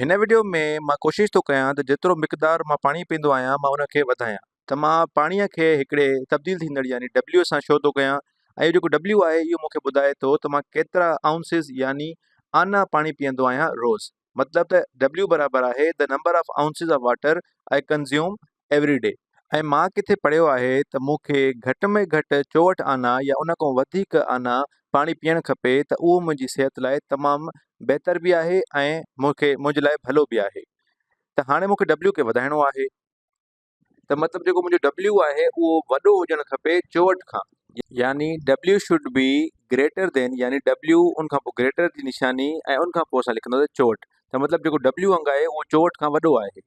هن وڊيو ۾ مان ڪوشش ٿو ڪيان ته جيترو مقدار مان پاڻي پيئندو آهيان مان ان کي وڌايان. ته مان پاڻي کي هڪڙي تبديل ٿيندڙ يعني W سان شو ٿو ڪيان ۽ اهو جيڪو W آهي اهو مون کي ٻڌائي ٿو ته مان ڪيترا Ounces يعني آنا پاڻي پيئندو آهيان روز مطلب ته W برابر آهي The number of ounces of water I consume every day ۽ مان ڪٿي پڙهيو آهي ته مون کي گهٽ ۾ گهٽ چوهٺ آنا يا ان کان وڌيڪ آنا پاڻي پيئڻ کپي ته اهو منهنجي صحت لاء تمام بهتر به آهي ۽ مون کي منهنجي لاء ڀلو به آهي ته هاڻي مون کي ڊبليو کي وڌائڻو آهي ته مطلب جيڪو منهنجو ڊبليو آهي اهو وڏو هجڻ کپي چوهٺ کان يعني W should be greater than يعني ڊبليو ان کان پوء گريٽر جي نشاني ۽ ان کان پوء اسان لکنداسين چوهٺ ته مطلب جيڪو ڊبليو انگ آهي اهو چوهٺ کان وڏو آهي.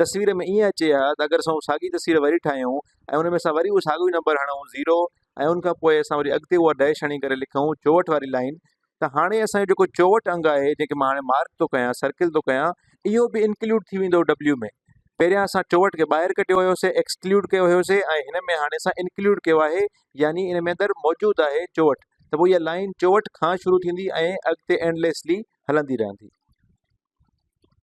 تصوير ۾ ائين اچي ها ته اگر اسان اها ساڳي تصوير وري ٺاهيون ۽ ان ۾ اسان وري اهو ساڳيو ئي نمبر هڻون زيرو ۽ ان کان پوء اسان وري اڳتي اها ڊيش هڻي ڪري لکون چوهٺ واري لائين ته هاڻي اسان جو جيڪو چوهٺ انگ آهي جنهن کي مان هاڻي مارڪ ٿو ڪيان سرڪل ٿو ڪيان اهو به انڪلوڊ ٿي ويندو ڊبليو ۾ پهريان اسان چوهٺ کي ٻاهر ڪڍيو هيوسي ايڪسڪلوڊ ڪيو هيوسي ۽ هن ۾ هاڻي اسان انڪلوڊ ڪيو آهي يعني ان ۾ اندر موجود آهي چوهٺ ته پوء اها لائين چوهٺ کان شروع ٿيندي ۽ اڳتي اينڊليسلي هلندي رهندي